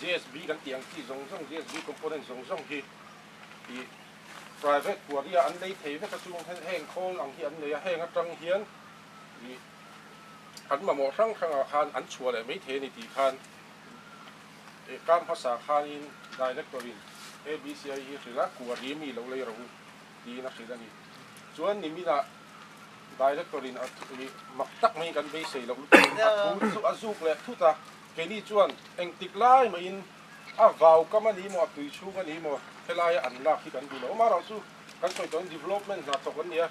JSB kan tih ang chi zawng zawng, JSB component zawng zawng hi i private puari a an nei thei vek a chung hian heng khawl ang hi an nei a, heng atang hian i an mamawh hrang hrang ah khan an chhuah leh maithei a ni tih khan e kam hmasa khanin director in ABCI hi a hrilh a, kuari mi lo lei rang tiin a hrilh a ni. Chuan nimin ah director in a i mak tak mai kan beisei loh lutuk in a thu chu a zuk leh thut a. Keini chuan engtik lai maiin a vau kam a ni maw, a tui chhung a ni maw, helaia an lak hi kan duh loh. Mah rau chu kan sawi tawh hi development hna tawk an nia,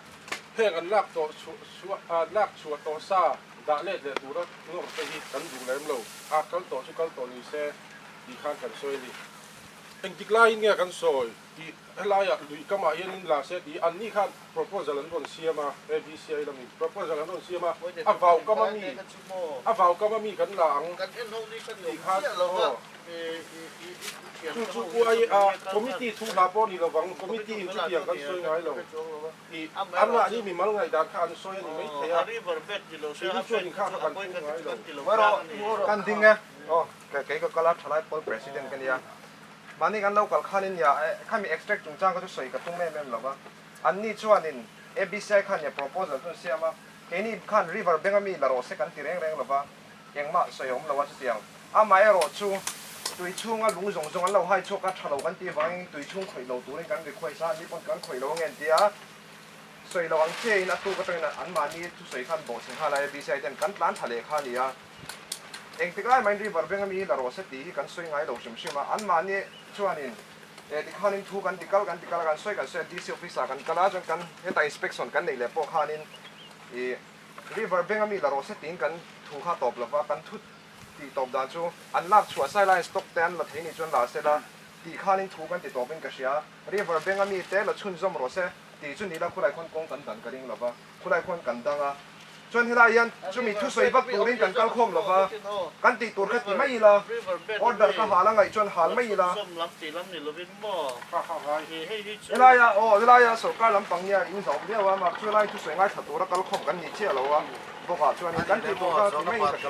heng an lak tawh chhuah, lak chhuah tawh sa dah let leh tura ngawr te hi kan duh lem lo. A kal tawh chu kal tawh nise tih khan kan sawi a ni. Engtik laiin nge kan sawi? Tih helaiah lui kamah hian in la se tih anni khan proposal an rawn siam a, ABCI lam in proposal an rawn siam a, a vau kam a mi, a vau kam a mi kan la ang tih khan aw chu chu uai a committee thu hla pawh ni lovang committee in chutiang kan sawi ngai lo tih amah ni mimal ngaihdan kha an sawi a ni maithei a, keini chuan in kha kha kan pum ngai lo. Kan ding e. Aw, kei ka kal a, thalai pawl president ka nia. Mahni kan lo kal khanin nia khami extract chungchang kha chu sawi ka tum em em lo va, an ni chuanin ABCI khan nia proposal chu an siam a, keini khan river bank a mi la rawh se kan ti reng reng lo va, engmah sawi a awm lo a chutiang a mah erawh chu tui chhunga lung zawng zawng an lo hai chhuak a, tha lo kan tih avangin tui chhung khawih lo turin kan request a, nipawm kan khawih lo ange an ti a, sawi lo ang che in a tu ka tawngin an mahni thusawi khan bawhchhe nghal a ABCI ten kan tlan tha leh kha a ni a. Eng tik lai main river veng ami la rawh se tih hi kan sawi ngai lo hrim hrim a, anmahni chuanin e tikhanin thu kan ti kal kan ti kal a, kan sawi kan sawi a DC office ah kan kal a chuan kan heta inspection kan neih leh pawh khanin i river veng ami la rawh se tiin kan thu kha tawp lova, kan thu tih tawp dan chu an lak chhuah sai laiin stock te an la thei nih chuan la se la tih khanin thu kan ti tawpin ka hria, river veng ami te la chhunzawm rawh se tih chu nihla khawlai khawn kawng kan dan ka ring lova. Khulai khuan kan dang a, chuan helai hian chumi thu sawi vak turin kan kal khawm lo va, kan tih tur kha ti mai ila, order ka hal a ngaih chuan hal mai ila. Helai a aw, helai a sorkar lampang nia in zawm viau a, marh chu helain thu sawi ngaithla tura kal khawm kan ni chiah lo a, bawkah chuanin kan tih tur kha ti mai ka ti a.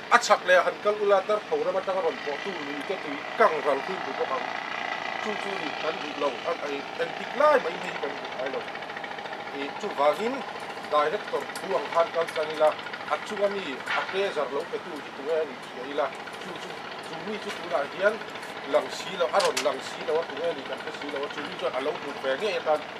A chhak leh a han kal ula dartho ram atang a rawn pawh tu luite tui kang ral hlun duh bawk ang. Chu chu nih kan duh lo a ngaih eng tik lai mai hi kan duh ngai lo. I chuvangin Director thu ang khan kal tlang ila, a chunga mi a pezar lo pe tu hi tunge a nih thliah ila, chu chu chu mi chu tunah hian lang si lo a rawn lang si lo a tunge a nih kan hre si lo a chu mi chuan a lo hmuh ve ngei atan.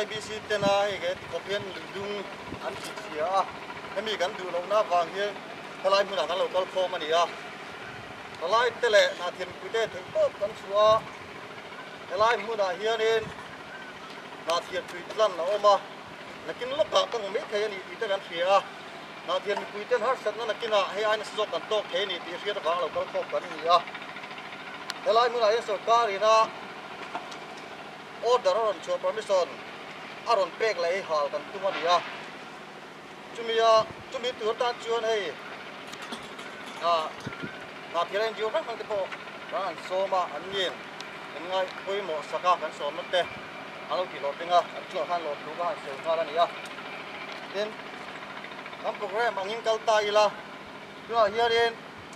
IBC tena hei he tikawp hian lui dum an thih hria a, hemi kan duh lohna vang hian helai hmunah kan lo kal khawm a ni a, hlalai te leh hnah thianpui te theih tawp kan chhuah a, helai hmunah hianin hnah thianpui tlan a awm a, nakin lawkah ka ngaw mai thei a ni tih te kan hria a, hnah thianpui ten harsatna nakinah hei ai nasa zawk kan tawk thei a ni tih hriat avang lo kal khawm kan ni a, helai hmunah hian sorkarin a. order a rawn chhuah permission a rawn pek la ei hal kan tum a ni a, chumi a chumi tur tan chuan hei ah hnathira inzir hrang hrang te pawh kan han sawm a an nge kan ngai pawimawh saka kan sawm na te a lo ti hlawh teng a an chungah khan lawmthu kha han sawi nghal a ni a, tin kan program angin kal ta ila tunah hianin.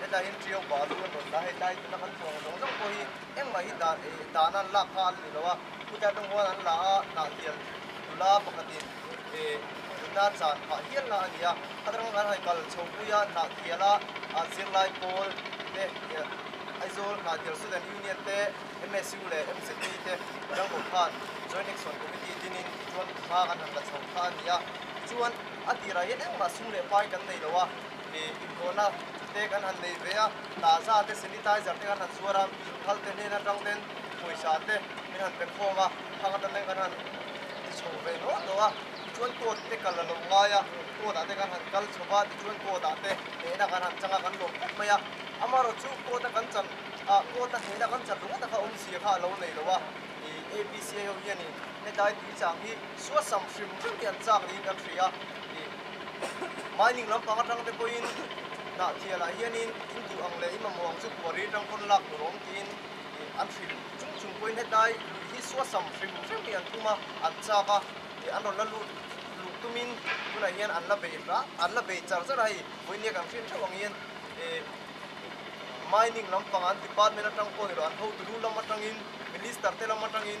Hetahin ṭiau pah a thu a nawn ta. Hei tlai tuna kan thawng zawng zawng pawh hi engmah hi dah eh dahna an lak kha an ni lo a, khutiang te huan an la a hnah hial nula pakhatin eh nunna chan phah hial na a ni a. Khatrang kan haikal chho pui a, hnah tial a a zirlai pawl te eh Aizawl Hnah Tial Student Union te, MSU leh MZP te rangkaw khan Joint Action Committee dinin tichuan inhma kan han la chho kha a ni a. Tichuan a tirah hian engmah sung leh pai kan nei lo a, Ih inkhawhna te kan han nei ve a, tahza te sanitizer te kan han zuar a, thal te hnena tang ten pawisa te min han pek khawm a, thang atan ten kan han ti chho ve nual tawh a, tichuan court te kal la lo ngai a, court ah te kan han kal chho va, tichuan court ah te hnehna kan han chang a, kan lawm khawp mai a, amarawh chu court a kan chan ah court a hnehna kan chan ringawt a kha awm zia kha a lo nei lo a, ih APCA ho hian in hetilai tuichang hi suasam hrim hrim hi an chak niin kan hria a, ih. Mining lampang atang te pawhin hnah thianah hianin induh ang leh engemaw ang chu puari atang pawn lak tur a awm tiin an hrim chung chung pawhin hetlai lui hi suasam hrim hrim hi an tum a, an chak a, an rawn la lut luh tumin tunah hian an la bei rah an la bei char char a hei. Vawiin hei kan hriat theuh ang hian mining lampang an department atang pawh nilo an hotu lu lam atangin minister te lam atangin.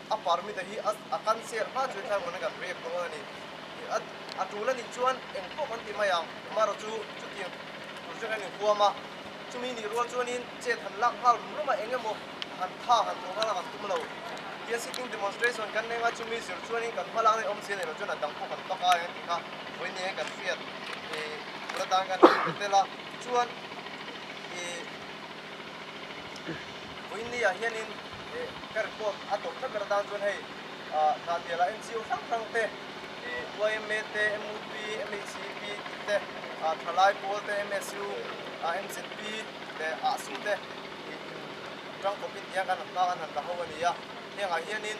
A parmite hi a kan share hma chu i thlai mawna kan riak dawn a ni. A tul a nih chuan eng tawh kan ti mai ang, Maro chu chutiang tur chu kan inhuam a, chumi nih rual chuanin chet han lak nghal rum rum a, eng emaw han tha han thawh nghal a kan tum lo. Tia sitting demonstration kan eng a, chumi zir chuanin kan hma lakna i awm si a nih loh chuan a dang pawh kan bak a eng ti kha vawi nia kan hriat i tur atan kan han pe tel a, tichuan i. Puinlia hianin ka report a tawp tlat ber atan chuan hei hna biala NGO hrang hrang te, YMA te, MUP, MHEP tih te, Thalai pawl te, MSU, MZP leh ah su te in tang khawpin tiang kan han nghak an han la ho a ni a. Hengah hianin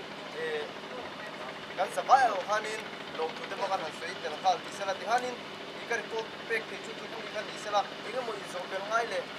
kan za vai erawh khanin lawmthu te pawh kan han sawi tel nghal tihsel a, tikhanin ka report pek thei chu chu chu hi kha nihsela, engemaw inzawhpel ngai leh.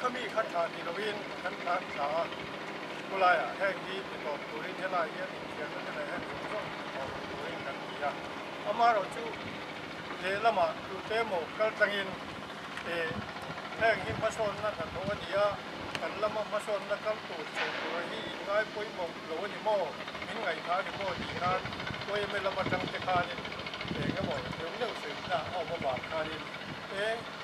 Khami khat thlah ti loin kan thlah ni ta a, khawlaiah heng hi ni tlawm turin helai hi a ni tih ang emaw heng rum zawng ni tlawm turin kan ti a. Amaherawh chu lehlama tlute emaw kal tlangin eh heng hi hmasawnna hnathawh a ni a, kan lama hmasawnna kal tur chho tura hi inngai pawimawh lo a ni maw, min ngaihthah a ni maw tih khan YMA lam atangte khanin eng emaw neuh neuh sawi hna a awm avang khanin eng.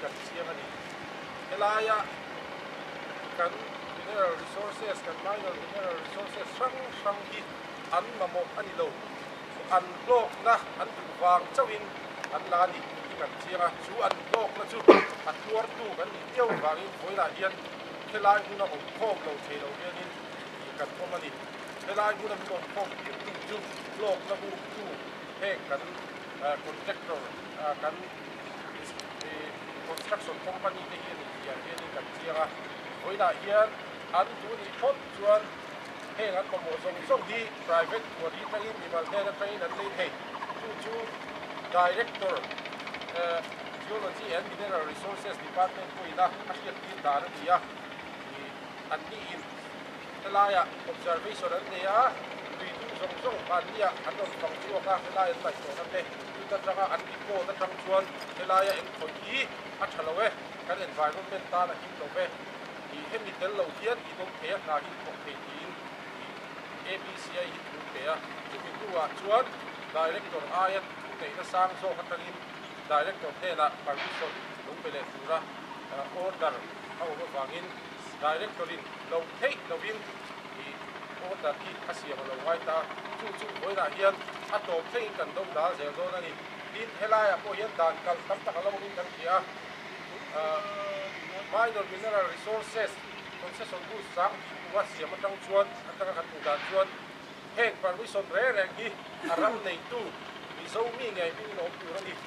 kan siam a ni. Helaia kan mineral resources, kan minor mineral resources hrang hrang hi an mamawh a ni lo. Chu an hlawkna an duh vang chauhin an la a ni tih kan chiang a. Chu an hlawkna chu a tuartu kan nih viau vangin Vawilah hian helai hmun a awm khawm lo thei lo hianin ih kan awm a ni. Helai hmun a min awm khawm tir tu chu hlawkna buk chu heng kan contractor kan Construction company te hian intial hianin kan chiang a, vawiinah hian an hnu nih thawt chuan heng an mamawh zawng zawng hi private pualhi aṭangin mimal hian aṭangin an nei thei, chu chu Director Geology and Mineral Resources Department pawhin a hriat tir dan a ni a, an nih in helaiah observation an nei a, tui dum zawng zawng hmanniah an rawn fang chhuak a, helai an laihhlawhna te. Tut atanga an impawn atang chuan helaia eng thawi hi a tha lo e, kan environment tan a him lo e, ih hemi tel lo hian tih dawng thei a hna hi thawk thei tiin ih ABCI hi thu thei a, chumi hnuah chuan Director aia thu neihna sang zawk atangin Director hnenah permission lo pe leh tura order a awm avangin Director-in lo theih lovin Order khi a siam a lo ngai ta, chu chu huainah hian a tlawm theiin kan dawng dan zel dawn a ni. Tin, helaiah pawh hian dan kal tam tak a lo awmin kan hria a, Minor Mineral Resources Concession Rules chang tih hnuah siam atang chuan atanga kan hmuh dan chuan heng permission reng reng hi a ral neitu Mizo mi ngei hming lawm tur a ni.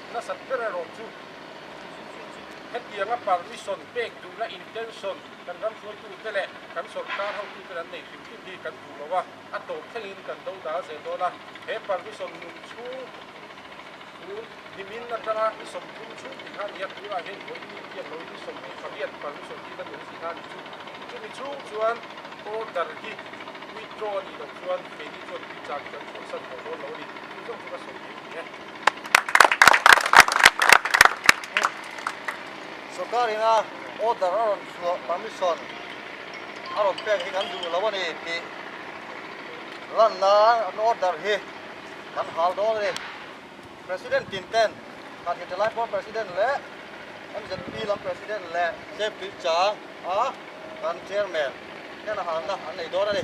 nasat ber erawh chu hetianga permission pek duhna intention kan ram hruaitute leh kan sorkar hotuten an nei thin thin hi kan duh lo a, a tawp thlengin kan do dal zel dawn a, he permission nun chhung tur hnimin atanga i sawm tum chhung tih kha a ni a, tunah hian hawi ni tiang lo in i sawm mai fang hian permission hi na nuam si kha a ni chu, chumi chung chuan order hi withdraw a nih loh chuan keini chuan inchang hi kan chhuahsan hauh dawn lo a ni, tui zawk chu ka sawi thei a ni e. Sawrkar in a order a rawn chhuah permission a rawn pek hi kan duh lo a ni tih lan nan an order hi kan hal dawn a ni. President tin ten kan hete lai pawh President leh MZP lam President leh Safety chang a kan Chairman hian a halna an nei dawn a ni.